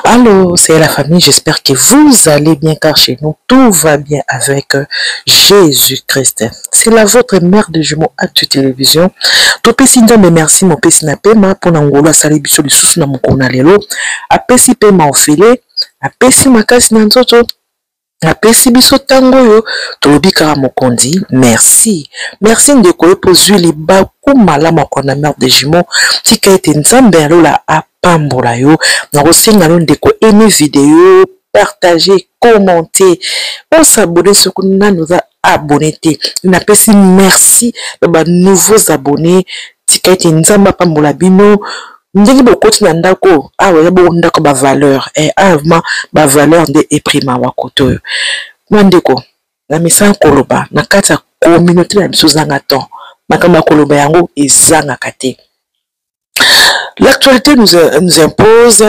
Allô, c'est la famille, j'espère que vous allez bien car chez nous tout va bien avec euh, Jésus-Christ. C'est la votre mère de jumeaux Actu Télévision. Topesi Nzambe merci mopesi na pema mpo na ngolo asali biso lisusu na mokolo na lelo. Apesi pema ofele, apesi makasi na nzoto, Napesi biso tango oyo tolobi kaka mokonzi merci merci ndeko yo po zui libaku malamu ya kolanda mère de jumeaux tika ete nzambe ya lola apambola yo nakosenga yo ndeko aime video partage commente o s'abonner soki nanu oza abonne te napesi merci na ba nouveaux abonnes tika ete nzambe apambola bino ndenge bokoti na ndako oyo awa eza bongo ndako ba valeur e eh, awa vraimen ba valeur nde eprima wa koto oyo mwa ndeko na misala koloba na kati ya communauté na biso ezanga temps makambo ya koloba yango ezangaka te l'actualité nous, nous impose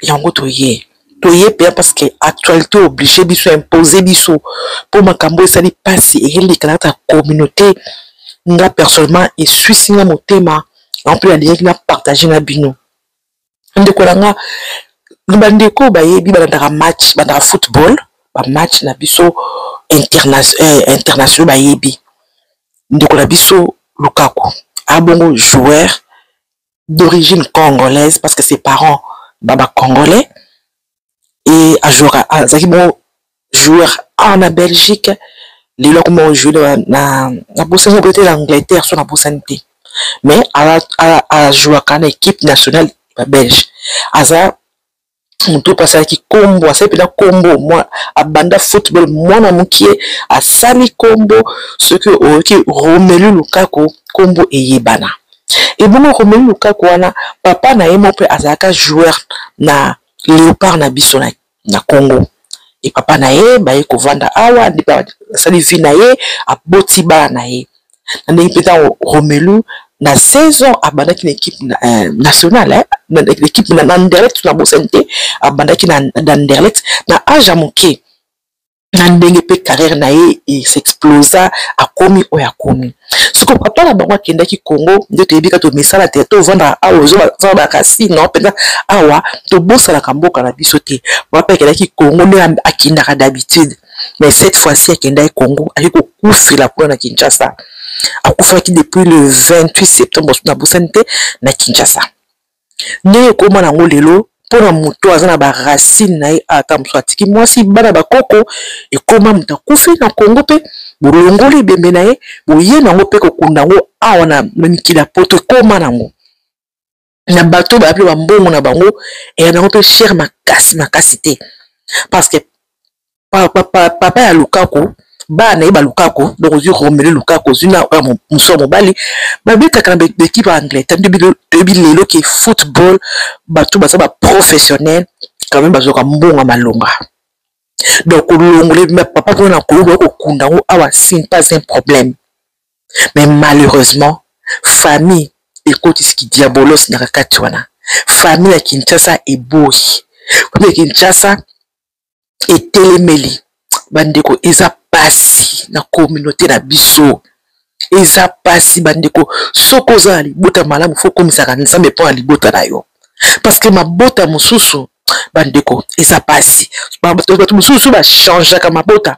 yango toye toye pea parce que actualité oblige biso impose biso mpo makambo esali mpasi eyelekana kaka communauté nga personnellement eswisi nga motema en plus alingaki na partage na bino ndeko na nga bandeko oyo bayebi balandaka match bandaka football bamatch na biso interna eh, international bayebi ndeko na biso lukaku abongo joueur d'origine congolaise parce que ses parents baba congolais et ajouaka azalaki bongo joueur awa na belgique lelo akoma ojoue na nabosani oboye te na angleterre so nabosani te mais ajouaka na équipe nationale ya belge aza moto oyo asalaki nkombo asali mpenza nkombo abanda football mwana mokie asali nkombo soki oyoki romelu lukaku nkombo eyebana ebongo romelu lukaku wana papa na ye moko mpe azalaka joueur na leopard na biso na, na congo e papa na ye baye kovanda awa nde mpe asali vie na ye aboti bana na ye na ndenge mpe ntango romelu na 16 ans abandaki na ekipe euh, nationale ekipe na anderlet na bosani te abandaki na anderlet na age ya moke na ndenge mpe carrière na ye esexplosa akomi oyo akomi soko papa na bango akendaki congo nde toyebi ka tomisala te tovandaka awa ozozala bakasino mpenza awa tobosanaka mboka na biso te papa akendaki congo nde akendaka d'habitude mais cette fois-ci akendaki congo ayei kokufela kuna na kinshasa akufaki depuis le 28 septembre nabosani te na kinshasa ndenge ekoma nango lelo mpona moto aza na ba racine na ye ata mosusu atiki mwasi bana bakoko ekoma moto akufi na kongo mpe bolongoli ebembe na ye boye nango mpe kokunda yango awa na mikili ya poto ekoma nango na bato oyo bayapi bambongo na bango eya nango mpe chere makasi makasi te parce que papa ya lukaku bana na ye balukako donc ozwi romelu lukako ozwi na mosu ya mobali babetaka na ekipe ya angleterre nde toyebi lelo ke football bato baza baprofessionnel quand même bazwaka mbongo ya malonga donc olongole papa mpona na koyoka kokunda yango awa sin pas un problème mais malheureusement famille ekotisi kidiabolos na kakati wana famille ya kinshasa eboyi famille ya kinshasa etelemeli bandeko eza pasi na communauté na biso eza pasi bandeko soki oza na libota malamu fo komisaka nzambe mpo na libota na yo parce que mabota mosusu bandeko eza pasi bato mosusu bachangeaka mabota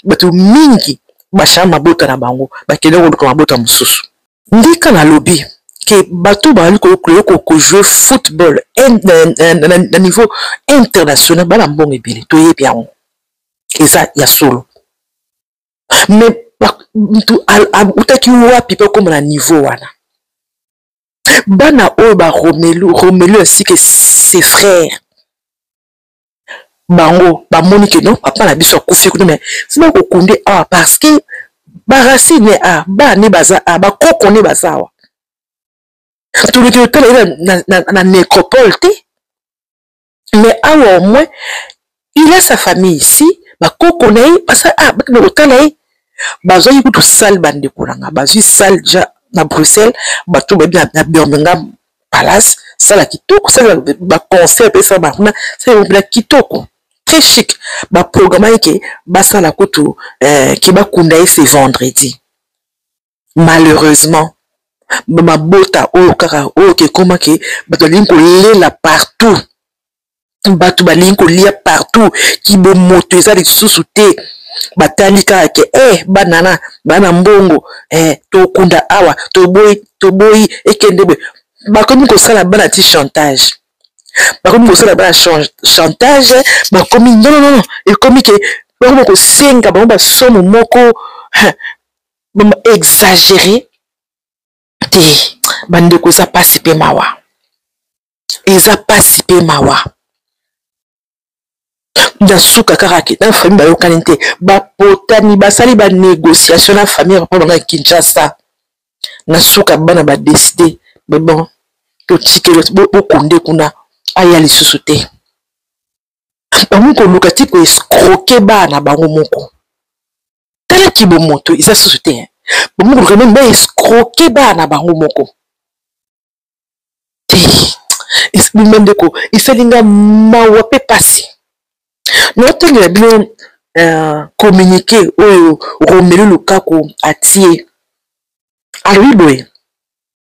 bato mingi bachange mabota na bango bakende koluka mabota mosusu ndika na lobi ke bato bazali kojouer football na niveau international bana mbongo ebele toyebi yango eza ya solo mais mutu autaki wapi mpe akoma na niveau wana bana oyo ba romelu romelu ainsi que ses frères bango bamoni ke non papa na biso akufi kuna mais sima kokunde awa parce que baracine ne a ba ne baza a bakoko ne baza awa toluki otala ye na, na, na, na nécropole te mais awa au moins il a sa famille ici bakoko na ye baza a bakende kotala ye bazwaki kutu sale bandeko na nga bazwi sale ja na bruxelles bato bayebi na birmingham palace sala kitoko sala baconseil apesa bango kuna sala yango mpena kitoko très chic baprogramaki ke basala kutu eh, ke bakunda ye se vendredi malheureusement bamabota oyo kaka oyo kekomaki bato balingi kolela partout batu balingi kolia partout kibomoto eza lisusu te batali kaka ke eh, bana na bana mbongo eh, tokunda awa toboyi toboyi ekende boye bakomi kosala bana ti chantage bakomi kosala bana chantage bakomi nononono ekomi ke bakomi kosenga bango basomo moko exagere te bandeko eza pasi mpe mawa eza pasi mpe mawa na suka kaka ke na famille bayokani te bapotani basali banégociation na famille papa banga ya kinshasa na suka bana badeside me bon totikeli bokonde kuna aya lisusu te bango koluka ti koescroke bana bango moko tala kibomoto eza susu te hein. bomokoluka meme baescroke bana na bango moko te bima ndeko esali nga mawa mpe mpasi naotangela bino euh, communiqué oyo romelu lukaku atie alobi boye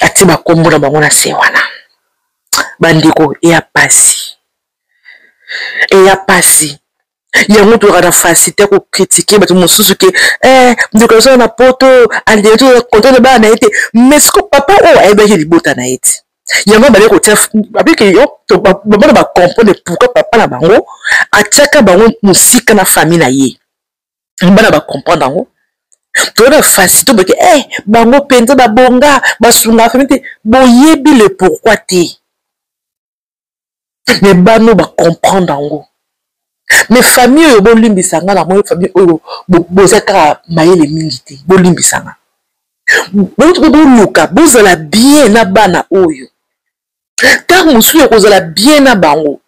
atie bakombo na bango na se wana bandeko eya pasi eya pasi yango tozalaka na facilité kokritike bato mosusu ke eh, ndeko azala na poto alingaki toza kontra na bana na ye te mais siko papa oyo ayebaki libota na ye te yango abali kotia abiki yo bamona bacomprendre pourkui papa na bango atiaka bango mosika na famille na ye bana ba comprendre yango toyeba fasito boke e eh, bango mpenza babonga basunga fami te boyebi le pourkui te me bano bacomprendre yango me famille oyo bolimbisa nga na moi famille oyo boza kaka mayele mingi te bolimbisa nga boluka bozala bien na bana oyo ntango mosusu ya kozala bien na bango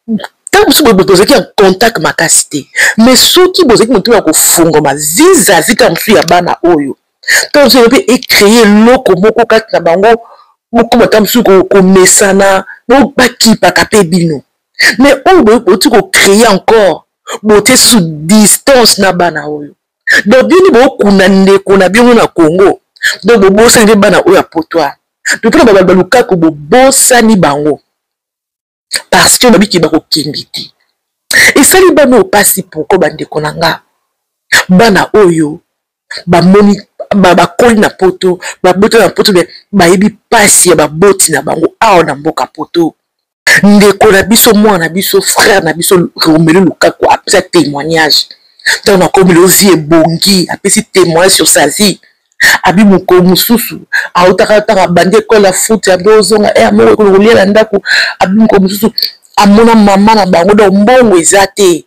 ntango mosusu boye bozalaki en contact makasi te mais soki bozalaki motema ya kofungama vizavi ntango mosusu ya bana oyo ntango mosusu mpe ecreye eloko moko kati na bango bokoma ntango mosusu komesana bakipaka mpe bino mais oyo boyoti kocreye encore botie sous distance na bana oyo donc bino bokunda ndeko na bino na congo donc bobosani mpe bana oyo ya potoire totuna babali balukaku bobosani bango parce que babiki bakokende te esali bana oyo mpasi poko bandeko na nga bana oyo bamoni bakoli na poto babota na poto me bayebi mpasi ya baboti na bango awa na mboka poto ndeko na biso mwana na biso frère na biso romelu lukaku apesa témoignage ntango nakomi lelo vie ebongi apesi témoignage sur sa vie abi mokolo mosusu autaka ntango abandi ekole ya futi abi ozonga e eh, amoko ekolo kolia na ndako abi mokolo mosusu amona mama na bango donc mbongo eza te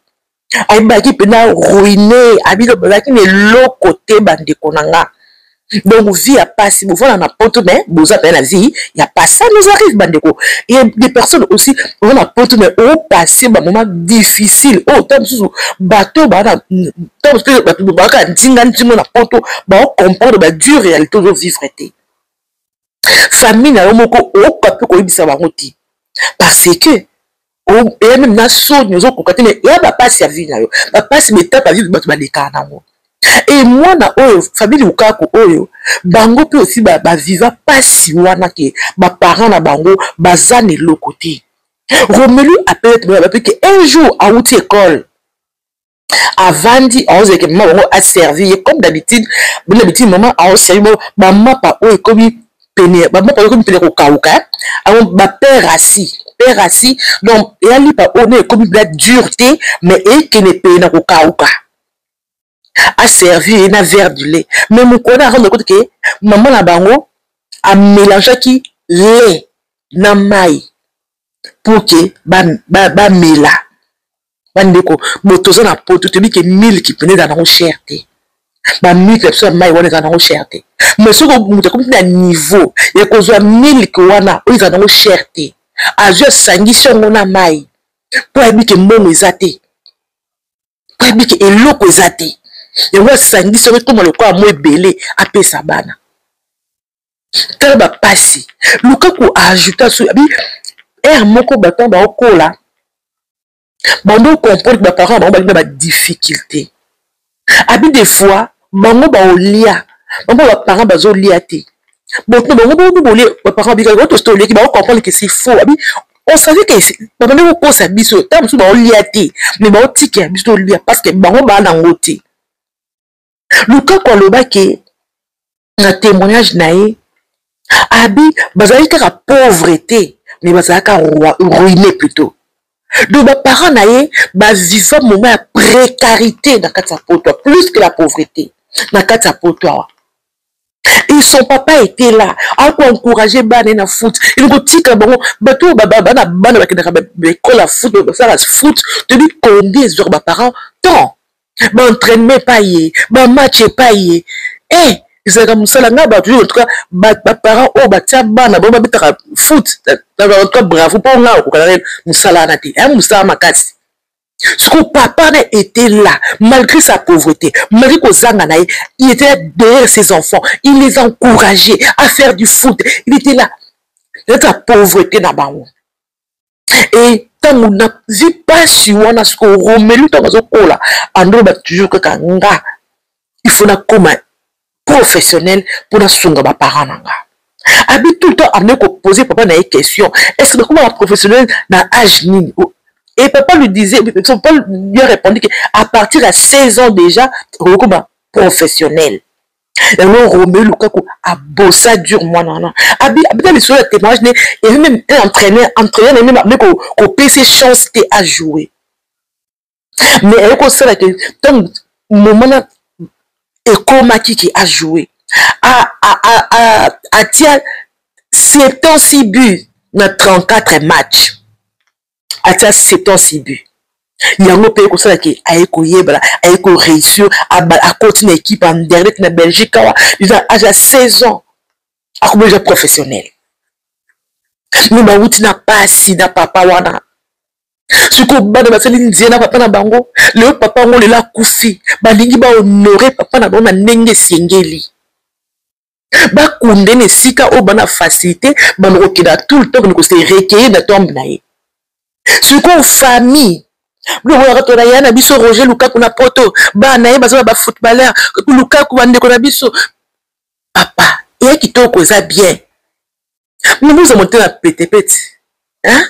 ayebaki mpena ruine abino bazalaki na eloko te bandeko na nga donc vie ya pasi bovanda na poto mais boza mpena na vie ya pasi ça nous arrive bandeko ye de personne aussi oza na poto mais opasse bamoment difficile oyo oh, ntango mosusu bato baana ntango mosusu bato baaka nzinga nzingo na poto baocomprendre badure réalité ozovivre te famille na yo moko okoka mpe koyebisa bango te parce que oya meme na soni ozokoka te mais ya bapasi ya vie na yo bapasi betapa vie bato balekaka nango e mwana oyo famille lukaku oyo bango mpe osi baviva ba pasi wana ke baparent na bango baza na eloko te romelu apelete moyo bape ke un jour awuti ekole avandi aozalaka mama bango aservi ye comme d'habitude bino d'habitude mama aoservi bango bamapa oyo ekomi pene bamapa oyo ekomi pene kokauka yango bapere asi pere asi donc eyalipa oyo na ekomi bla dur te mais ekende pene na kokauka aservi ye na verre du lait mais mokona akombe kote ke mama na bango amelangeaki lait na mai pour ke bamela ba, ba bandeko bo toza na poto toyebi ke miliki mpena ezala nango cher te bamiliki na biso ya mai wana ezala nango cher te mai soki moto akomi na niveau ya kozwa miliki wana oyo ezala nango cher te azwi asangisi yango na mai mpo ayebi ke mbongo eza te mpo ayebi ke eloko eza te yango asangisi yango ekoma lokola mo ebele apesa bana tala bapasi luka koajouta so abi ere moko baton baokola bando okomprendre ke baparent na bango balinga badifficulté abi de fois bango baolia bango baparent bazolia te boto bango bono bolie baparent babikaki bato soto olieki baokomprendre ke si faux abi on savait que babandi kokosa biso ntango mosusu baolia te mais baotikela biso tolia parce que bango baa nango te lukaku aloba ke na témoignage na ye abi bazalaki kaka pauvre te mais bazalaka ruine plutôt donc baparent na ye baviva moment ya précarité na kati ya poto plus que la pauvreté na kati ya poto awa et son papa était là ako encourage bana na foot elingo tika bango bato oyo bana bana bakendaka baekole ya foot basala foot toyebi combien ezwaka baparent temps baentraînement epai ye bamatch epai ye e eh, ezalaka mosala ngai bato yo entouka baparent oyo batya bana bango babetaka foot entouka bravo mpo ngai okokaka mosala wana te ya mosala makasi sikoyo papa na était là malgré sa pauvreté malgré kozanga na ye il était là derrière ses enfants il les encouragé à faire du foot il était là naka pauvreté na bango e ntango nazwi mpasi wana sikoyo romelu ntango azokola andoloba toujours kaka nga il faut nakoma professionnel mpo nasunga baparent na nga abi tout le temps amene kopose papa na ye question est ce que bakoma ba professionnel na age nini oh, et papa lui disait papa lui a répondu que à partir ya 16 ans déjà okokoma professionnel yango romeo lukaku abosa dure mwana wana abita lisolo ya témoignage ne evi meme un entraîneur entraîneur na ye meme kopesa chance te ajouer mais aye kosala ke ntango momana ekomaki ke ajoue atia 76 but na 34 match atia 76 but yango mpe ekosala ke aye koyebana aye koreusir akoti na ekipe ya nderlet na belgique awa eza age ya 16 ans akomi deja professionnel me bawuti na pasi na papa wana sikoyo bana basali nzela na papa na bango leo papa yango lelo akufi balingi bahonore papa na bango na ndenge esengeli bakunde na esika oyo bana facilité bana kokenda tout le temps kende kose recueille na tombe na ye sikoyo famille bilobonaka tona ya na biso roger lukaku na poto bana ye baza na bafootballeur lukaku bandeko na biso papa eya kitoko eza bien bino boza motema petepete hein?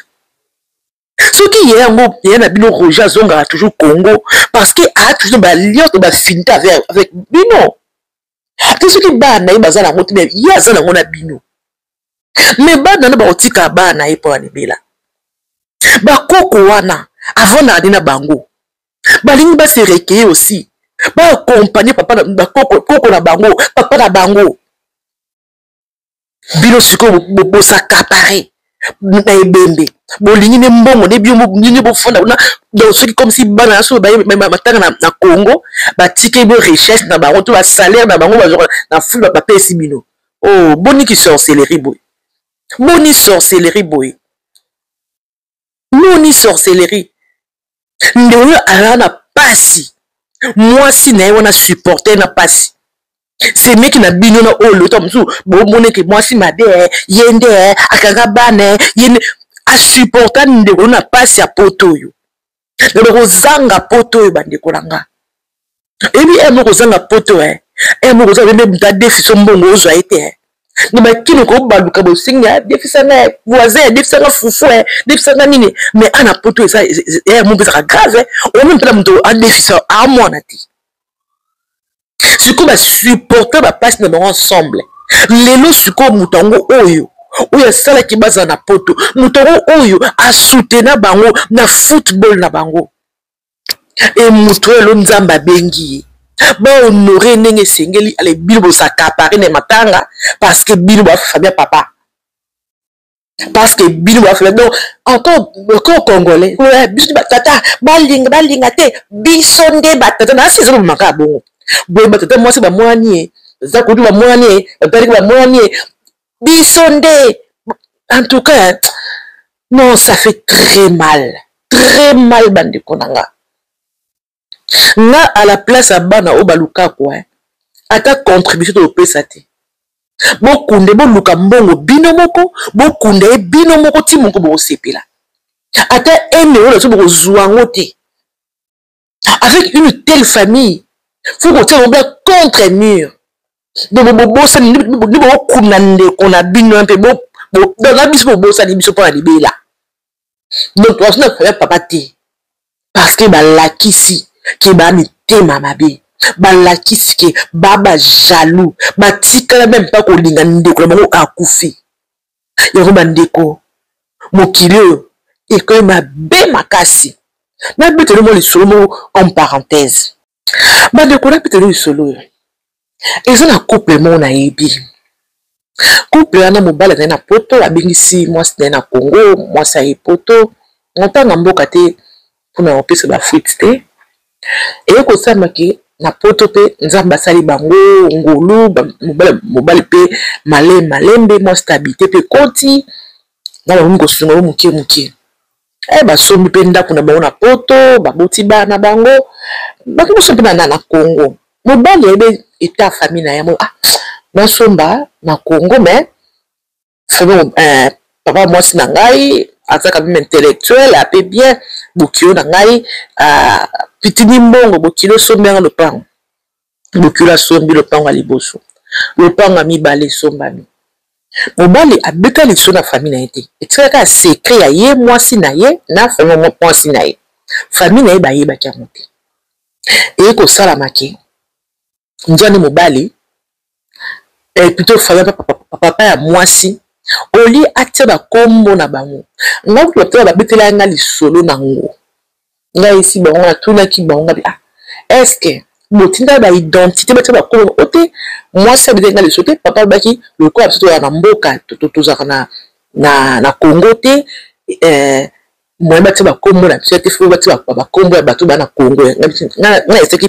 soki ye yango ye na bino roger azongaka toujours congo parce que a toujours baliance bafinita avec, avec bino te soki bana na ye baza nango te ye aza nango na bino me bana na bakotika bana na ye mpo ya libela bakoko wana avandaka nde na bango balingi base rekeye aussi baakompagne papa bakoko na bango papa na bango bino sikoyo bosakapare na ebembe bolingi ne mbongo ne bio nini bofanda kuna donc soki comme si bana na soki batanga na congo batiki bo richesse na bango to basalaire na bango bazwaka na fulu bapesi bino o oh, boni ki sorcellerie boye boni sorcellerie boye moni sorcellerie ndeko oyo azala na pasi mwasi na ye wana supporter na pasi semeki na bino na oyo lota mosusu bomoneke mwasi mabe eh, ye nde eh, akanga bana eh, ye nde asupporta ndeko na pasi ya poto oyo me bokozanga poto oyo bandeko na nga eyebi e moko ozanga poto e eh. eh, moko oza bende muta defiso mbongo ozwa ye te eh. na makini kobaluka bosengi ya defisa nga voisin ya defisa nga fufu e defisa nga nini me ana poto eza ya mo mpezaka grave oyo mpela moto adefisa amwana te sikoyo basupporta bapasi na bango ensemble lelo sikoyo moto yango oyo oyo asalaki bazala na poto moto yango oyo asutena bango na football na bango e moto oyo elo nzambe abengi ye bahonore ndenge esengeli ale bino bozakapare na matanga parceke bino bafamia papa parce que bino bafela donc encore encore congolais eh, biso batata balinga balinga te biso nde batata na asi ezolobama kaka bongo boye batata mwasi bamwani ye eza kutu bamwani ye bataliki bamwani ye biso nde en tout cas non ça fait très mal très mal bandeko na nga nga à la place ya bana oyo balukaku hein ata contribution topesa te bokunde boluka mbongo bino moko bokunda ye bino moko ti moko bokosepela ata ene oyo naso bokozwa yango te avec une telle famille fo kotia yango bla contre mur donc bobosani nde bokokunda ndeko na bino mpe na biso bobosani biso mpo na libela donc wazo na faya papa te parce que balakisi ke ba mitema mabe balakisi ke ba ba jaloux batikala meme mpa kolinga ndeko na bango akufi yango bandeko mokili oyo ekomi mabe makasi nabeteli mwa lisolo moko en parenthèse bandeko napeteli lisolo oyo eza na couple moko nayebi couple wana mobali azali na poto abengisi mwasi na ye na congo mwasi aye poto montana mboka te mpona kopesa bafuite te eye kosamaki na poto mpe nzambe asali bango ngolu mobali mpe male malembe mwasi tabite mpe koti na bakomi kosunga yo moke moke eh, basombi mpe ndako na bango na poto baboti bana na bango bato moso mpe na congo mobali ayebe eta famille na yango ah, nasomba na congo mais famille eh, papa mwasi na ngai aza quand même intellectuel ape bien bokilo na ngai ah, pitini mbongo bokilo osombi yango lopango Bokilo asombi lopango ya liboso, lopango ya mibale esombami. Mobali abeta liso na famille na ye te, etikala kaka secret ya ye mwasi na ye na famille mwasi na ye. Famille na ye bayebaki yango te. Eye kosalama ke nzwani mobali eh, plutôt famille papa, papa ya mwasi olie atia bakombo na bango, ngai kutu babetela ngai lisolo na yango ngai esi bango natunaki bango ngabi ah eske botinda ba identité batia bakolo o te mwasi abetaki ngai liso te papa alobaki lokola biso tozalaka na mboka tozalaka na, na, na congo te eh, moye batia bakombo na biso te fo batia bakombo ya bato bana congo ngai esaki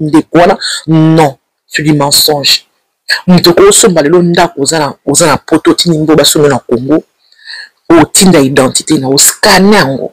ndeko wana non sur du mensonge moto okosomba lelo ndako oza na poto otindi mbo basomba na congo otinda identité na oscane yango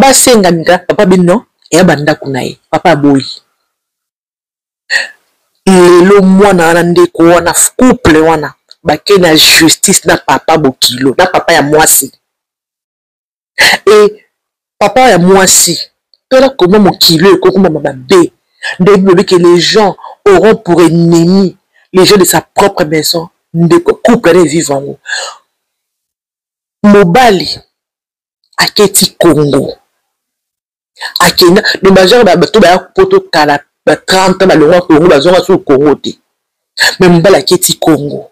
basenga nga papa be non eya bandako na ye papa aboyi lelo mwana wana ndeko wana couple wana bake na justice na papa bokilo na papa ya mwasi e papa ya mwasi tala koma mokilo ekokomama mabe nde bilobi ke les gens auront pour ennemi les gens de sa propre maison ndeko couple na evive yango mobali aketi congo akenda me bazwaka bato baya poto kala ba 30 balongwa congo bazwaka sou congo te me mobali aketi congo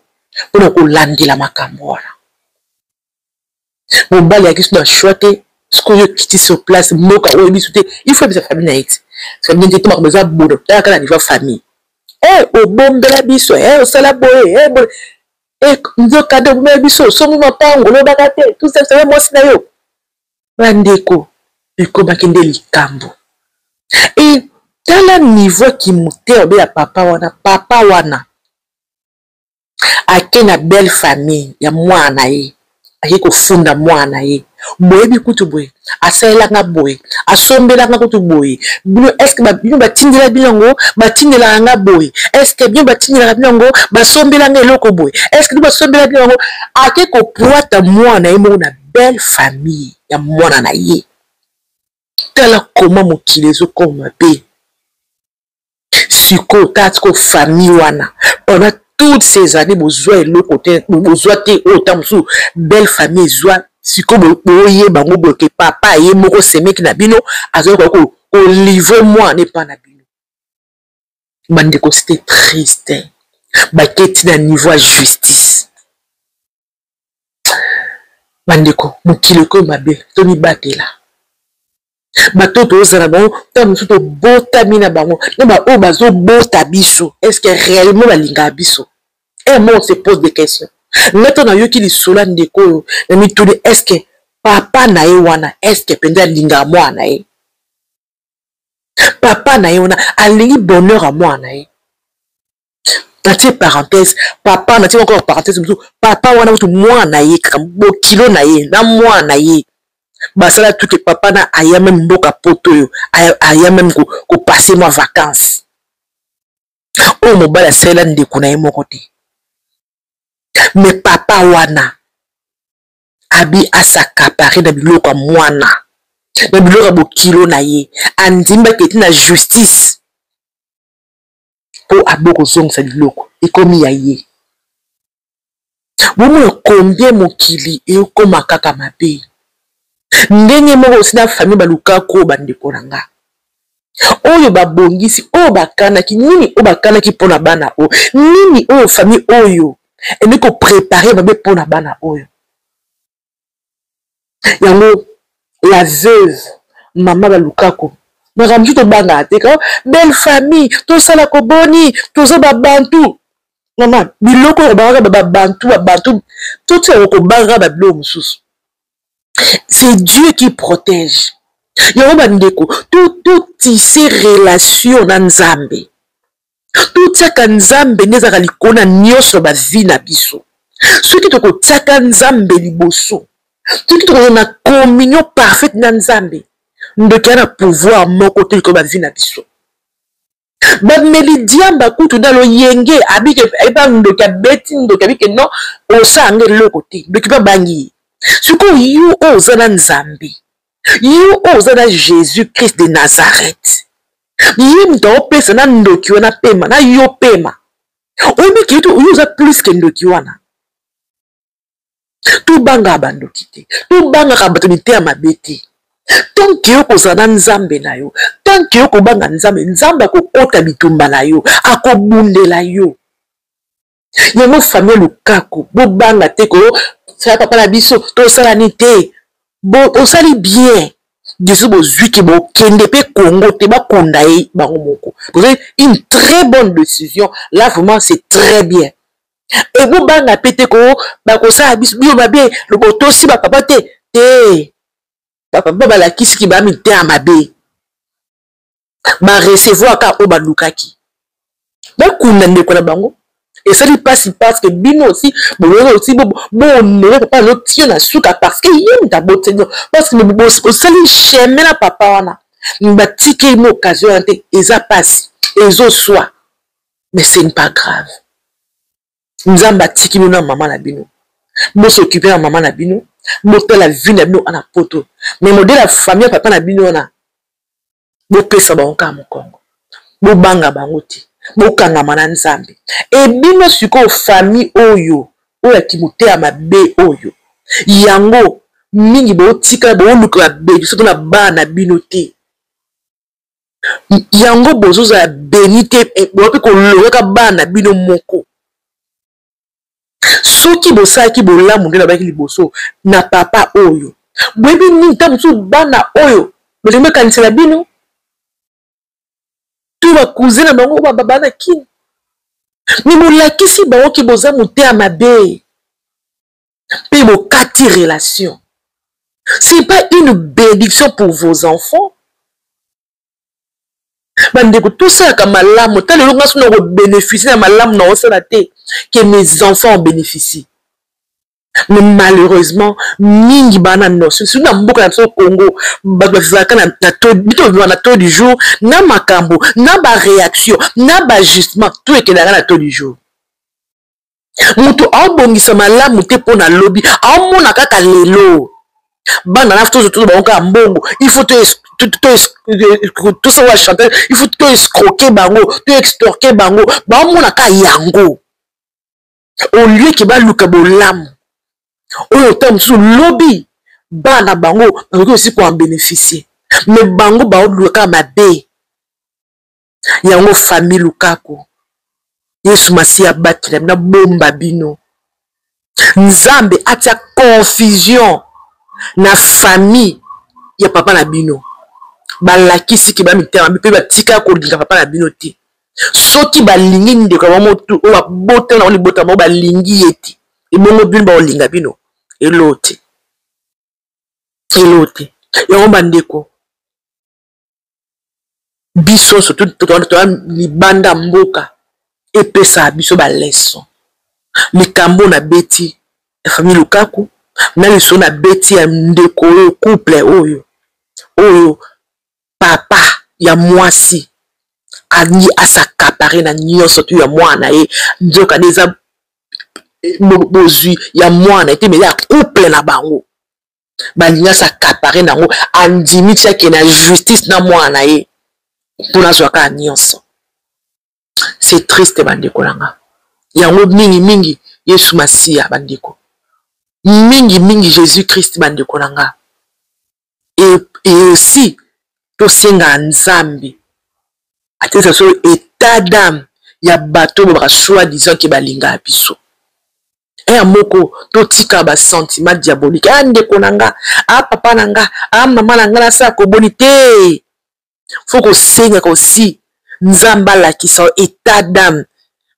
mpona kolandela makambo wana mobali ayaki so na shwa te sikoyo okiti sur place mboka oyo biso te ifo yebisa famille na ye ti famille te tomaka boza bono tala kaka nivo famille e obombela biso e osala boye e boye Eh, nzoka de bobe biso somi mapango olobaka te tusasaye mwasi na yo bandeko ekomaki nde likambo e tala niveau ya kimoteur be ya papa wana papa wana ake na belle famille ya mwana na ye aye kofunda mwana na ye boyebi kutu boye asalela nga boye asombela nga kutu boye bino eske bino batindela bino yango batindelaka nga boye eske bino batindelaka bino yango basombela nga eloko boye eske bino basombela bino yango ake kopwata mwana ye moko na belle famille ya mwana na ye tala koma mokili ezokoma mabe sikoyo tala sikoyo famille wana pendant toutes ces années bozwa eloko te bozwa te oyo oh, ntango mosusu belle famille ezwa sikoyo boyeba yango boye ke papa ye moko semeki na bino azalaki koya kolivre mwana epa na bino bandeko c'était triste baketi na niveau ya justice bandeko mokili ekoyo mabe tomibatela bato oyo tozala bango ntango mosusu tobotami na bango na baoyo bazobota biso estce réellement balingaka biso e mo se pose des questions nga ntango nayoki lisolo ya ndeko oyo na mituni estce papa na ye wana estce mpenza alingaka mwana na ye papa na ye wana alingi bonheur ya mwana na ye natie parenthèse papa natie encore parenthèse mosusu papa wana kutu mwana na ye kaka bokilo na ye na mwana na ye basala tuke papa na aya meme mboka poto oyo aya meme kopase ko mwa vacances oyo mobali asalela ndeko na ye moko te me papa wana abi asakapare na biloko ya mwana na biloko ya bokilo na ye andimi baketi na justice po abo kozongisa biloko ekomi ya ye bomona combien mokili ekoma kaka mabe ndenge moko osi na famille baluka ko bandeko na nga oyo babongisi oyo bakanaki nini oyo bakanaki mpo na bana oyo nini oyo famille oyo ende koprepare mabe mpo na bana oyo yango la veuve mama balukako makambo mosusu tobangaka te kao belle famille tosala koboni toza babantu mama biloko oyo kobangaka babantu babantu totiaka kobangaka babiloko mosusu c'est dieu qui protège yango bandeko totise relation na nzambe totiaka nzambe nde ezalaka likolo na nyonso ya bavi na biso soki tokotiaka nzambe liboso soki tokozala na communion parfaite na nzambe ndoki ya na pouvoir moko te likolo bavi na biso bameli diamba kutu na loyenge abike eba ndoki abeti ndoki abike no osala nge eloko te ndoki mpe abangi ye sikoyo yo oyo oza na nzambe yo oyo oza na jésus christ de nazareth ye moto aopesa na ndoki wana pema na yo pema omiki ete oyo oza plus ke ndoki wana tobangaka bandoki te tobangaka bato miteya mabe te tanke yo kozala na nzambe na yo tanke yo kobanga nzambe nzambe akokota bitumba na yo akobundela yo yango famille lukaku bobanga te ko sala papa na biso tosala ni te osali bien biso bozwiki bokende mpe congo te bakunda ye bango moko bozali une très bonne décision là vraiment c'est très bien ebobanga mpe te ko bakosala biso biyo mabe botosi bapapa te te bapapa balakisiki bamitema mabe ba recevoir ka oyo balukaki bakunda ndeko na bango esali mpasi parce que bino aussi bololo osi boonore papa alo tie na suka parce que ye moto abotino parce que bosali chemin na papa wana batiki ye mo occasion wana te eza mpasi ezoswa mais ce n'est pas grave nzambe atiki bino na mama na bino bosokipe na mama na bino botala vi na bino ana poto me modele ya famille ya papa na bino wana bopesa bango kaka mokongo bobanga bango te bokangama na nzambe e bino sikoyo famille oyo oyo ya kimoteya mabe oyo yango mingi botikala booluka babebi soki na bana na bino te yango bozozala beni te eh, boyapi kolongaka bana bino moko soki bosalaki bolamu nde nabaki liboso na papa oyo boyebi nini ntango mosusu bana oyo balingi bakanisela bino to bakuze na bango oyo bababa na kini me bolakisi bango ke boza moteya mabe mpe bokati relation c'est pas une bénédiction pour vos enfants bandeko tosalaka malamu ta lelo ngai sona kobénéficie na malamu na osala te que mes enfants en bénéficient mais malheureusement mingi baa na notion surtout na mboka na biso congo bato bazalaka bitobima na taux du jour na makambo na baréaction na bajustement to ekelaka na taux du jour moto aobongisa malamu te mpo na lobi aomona kaka lelo bana na tozo tozo bango kaka mbongo il faut tosala wa chantage il faut to escroke bango to extorke bango baomona kaka yango au lieu ke baluka bolamu oyo ntango mosusu lobi bana bango bakoki osi koen bénéficier me bango baoluka kaka mabe yango famille lukaku yesu masiya abatela bino abomba bino nzambe atia confusion na famille ya papa na bino balakisi ke bamitema mpe batika kolinga papa na bino te soki balingi ndeko ya bango oyo babotana bango libota bango balingi ye te ebongo bino baolinga bino eloo te eloo te yango bandeko biso surtout toza libanda mboka epesaka biso baleson likambo na beti ya famille lukaku na lisolo na beti ya ndeko oyo couple oyo oyo papa ya mwasi alingi asakapare na nyonso tu ya mwana na ye nzoka nde eza bozwi ya mwana ete meza ya couple na bango balingi asa kapare na yango andimi ti ake na justice na mwana na ye mpo nazwa kaka nyonso c'est triste bandeko na nga yango mingi mingi yesu masiya bandeko mingi mingi jésus christ bandeko na nga et, et aussi tosenga nzambe atesa so état d'âme ya bato oyo baka soi disant ke balingaka biso eya moko totika ba sentiment diabolique a ndeko na nga a papa na nga a mama na nga nasala koboni te fo kosengaka osi nzambe alakisa yo etat dame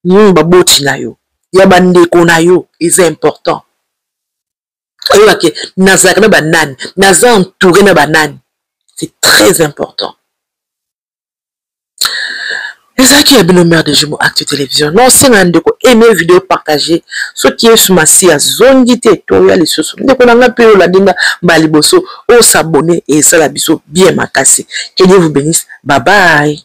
nini baboti na yo ya bandeko na yo eza important oyebake nazalaka na banani naza entouré na banani c'est très important ezalaki ya bino mare de jumo acte télévision na osenga ndeko aime video partage soki yesu masi azongi te toya lisusu ndeko na ngai mpe olandi nga mbala liboso osabone esala biso bien makasi que dieu vous benisse babai